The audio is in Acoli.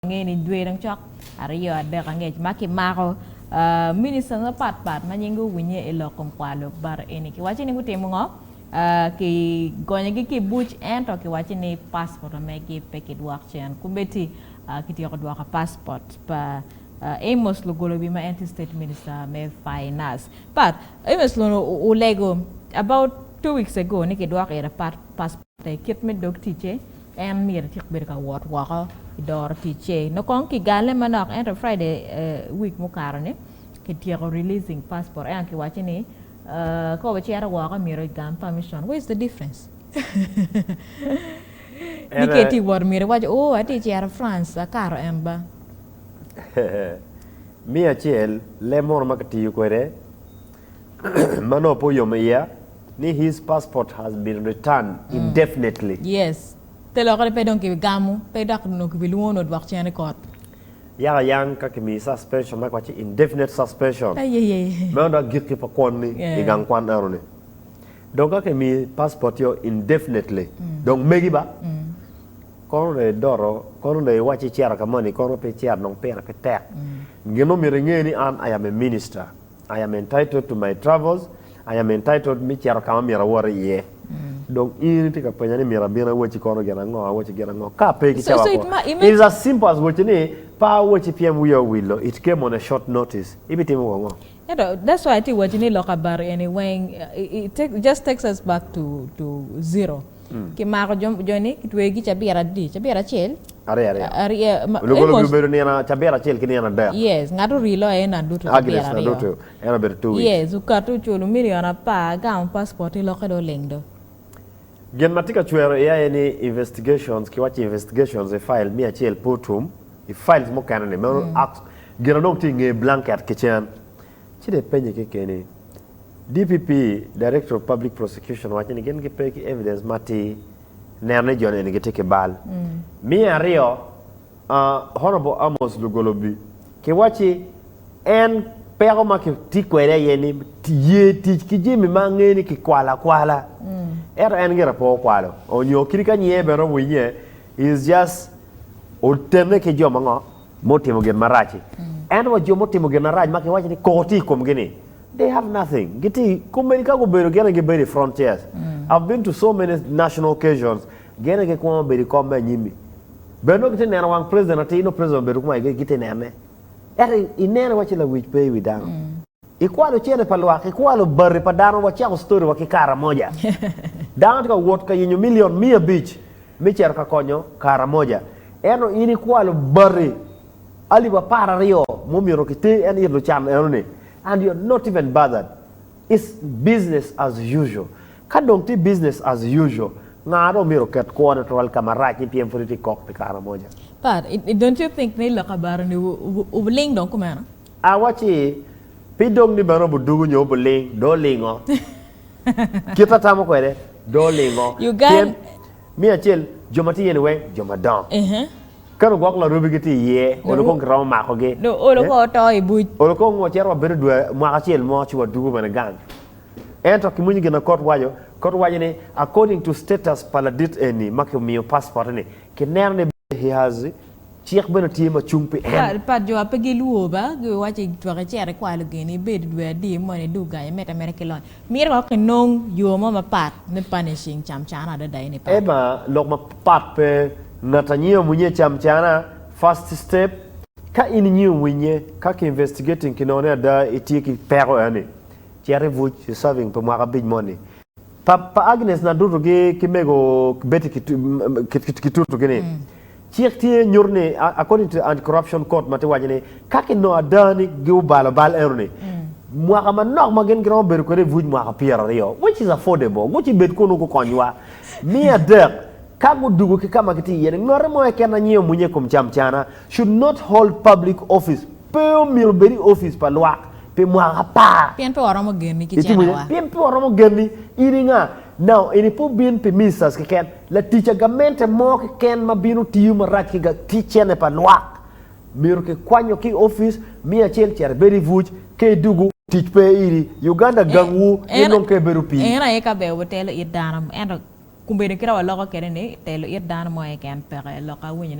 Ngeni dwe dong cok aryo adek angec ma kimako ministers mapat pat ma nyinggi owinye i lok kom kwar lok bata eni. Kiwacci ni gutimo ngo? Ki gonyogi ki i buc ento kiwacci ni passport megi pe ki dwok cen. Kumeti ki tyeko dwoko passport pa Amos Lugolobi ma en tye state minister me finance. Pat, Amos Lugolobi olego about two weeks ago ni ki dwoko ite passport. I kit me dog ticce, en myero ecit bedo ka wot woko i doro ticce. Nongo kong kigale manok ento Friday week mukato-ni kityeko releasing passport ento kiwaco ni ka wacito woko myero egam permission. Where is the difference? Ni ka itye ka wot myero iwac ooh atye ka cito France akato en ba. Me acel, leb munu ma kitiyo kwede. Manno pe oyom iya ni his passport has been returned indefinitely. Yes. Te lokere pe dong kibigamo pe dok onongo kibilwongo ni odwok cen i kot. Yaka yang ka kimiyi suspension ma kiwaco ni indefinite suspension Ayeye. meno dok gikki pa kwonni i gang kwan enoni. Dong ka kimiyi passport-io indefinitely dong megi ba. Kono dong idoto, kono dong iwac icito ka moni kono pe icito dong pire pe tek. Gin ma omyero inge ni an I am a minister. I am entitled to my travels, I am entitled me cito ka ma myero awot iye. Dong in itye ka penya ni myero abin awacci kono gin ango, awacci gin ango? Ka pe So, so ikicawa it kwo, ma- it it is as simple as wacci ni pe awacci pien wiya owillo, it came on a short notice. Ibitimo wa ngo? Ento that's why atye wacci ni lok abaro eni weng, it, it take, just takes us back to, to zero. Kimako jo-ni, kitweyogi ki cabira adi? Cabira acel? Aryo. Lugulu gubedo nino cabira acel ki nino adek. Yes, ngat orii loyo eno adutu cabira aryo. Agnes adutu, en obedo two weeks. Yes, okato oculo milion apar, gamo passport ci lokke dong oleng do. Gin ma tye ka cwero iya aye ni investigations, ki waci investigations i file miya acel pe otum, i files mukene ni meno gin adong tye i nge blanket kicen. Ci dong ipenye kekeni. DPP, Director of Public Prosecution, waco ni gin gipe ki evidence matir neno ni jo-ni eni gitye ki bal. Me aryo, Honourable Amos Lugolobi, kiwacci en peko ma kitye kwede aye ni ye tic ki jami ma angeyo ni kikwalo akwala, ento en gire pe okwalo nyo kadi ka nyiye bene owinye, he is just otene ki jo ma ngo? ma otimo gin marac-ci. Ento wa jo ma otimo gin marac ma kiwaco ni koko tye i komgi-ni, they have nothing. Gitye komedi ka gubedo gin aye gibedo i front chairs. I've been to so many national occasions, gin aye gikwongo bedo i kom me anyim-mi. Bene nongo gitye neno wang president atir, nongo president obedo kuma aye gitye nene. Ento ineno iwaci lawic pe i wi dano. Ikwalo cene pa lwak, ikwalo bati pa dano, wacako storiwa ki Karamoja. Dano tye ka wot ka yenyo milion miya abic me cito ka konyo Karamoja, ento in ikwalo bati alip apar aryo ma omyero kiter en it lucan enoni and you are not even bothered. It's business as usual. Ka dong tye business as usual, nga dong myero oket kwone tutwal ka marac ni pien pud itye ka kok pi Karamoja? But don't you think ni lok kabaro ni wuling dong kumeno? Awacci, Pi dong ni bene obudugu nyo obuling, dong olingo. Kite atamo kwede, dong olingo. Pien, me acel, jo ma tye iye-ni weng jo madongo. Kadi ogwok larubi gitye iye, olo kong kiromo makogi. Dong olo kong oto i buc. Olo kong wacito wabedo dwe, mwaka acel mo ci wadugu bene gang. Ento kimwinyo gin ma kot waco. Kot waco ni, according to status pa ladit eni ma kimiyo passport-ti-ni, kineno ni he has. Cik bene tye ma cung pi en. Pat jo a pe gilwor ba giwaco i twak icito ikwayo lugeni, ibed i dwe adir, mono i dug gang, imed ameda ki lony. Mito wek inong yo mo mapat me punishing cam cana adada eni pat. Emma lok mapat pe ngat a nyiom winye cam cana first step. Ka in inyiom winye ka ki investigating ki none ada itye ki peko eni, cit ibuc serving pi mwaka abic moni. Pa pa Agnes na dutu gi ki mego Betty ki tutu gi ni cik tye nyutu ni according to anti corruption court ma tye waco ni ka ki nongo ada ni gi obalo bal eno ni mwaka manok ma gin giromo bedo kwede ibuc mwaka pyero aryo which is affordable guci bed kunu gu kony wa me adek ka gu dugu ki kama ki tye iye ni ngote mo keken anyiyo munye ikom cam cana should not hold public office Pe omyero bed i ofice pa lwak pi mwaka apar. Pien pe waromo genni ki Itimo cenewa. pien pe waromo genni. In i nga? Now, eni pe obin pi ministers keken. Latic a gamente mo keken ma bino tiyo marac ki ga, ki cene pa lwak. Myero ki kwanyo ki i ofice, miyo acel cito ibed i vuc, ke idugu. Tic pe iri. Uganda gang wu, in dong ke ibedo pi. En aye ka ber wutelo it dano, ento, ku bedo kit a waloko kede ni, telo it dano mo keken peke lok a winyone.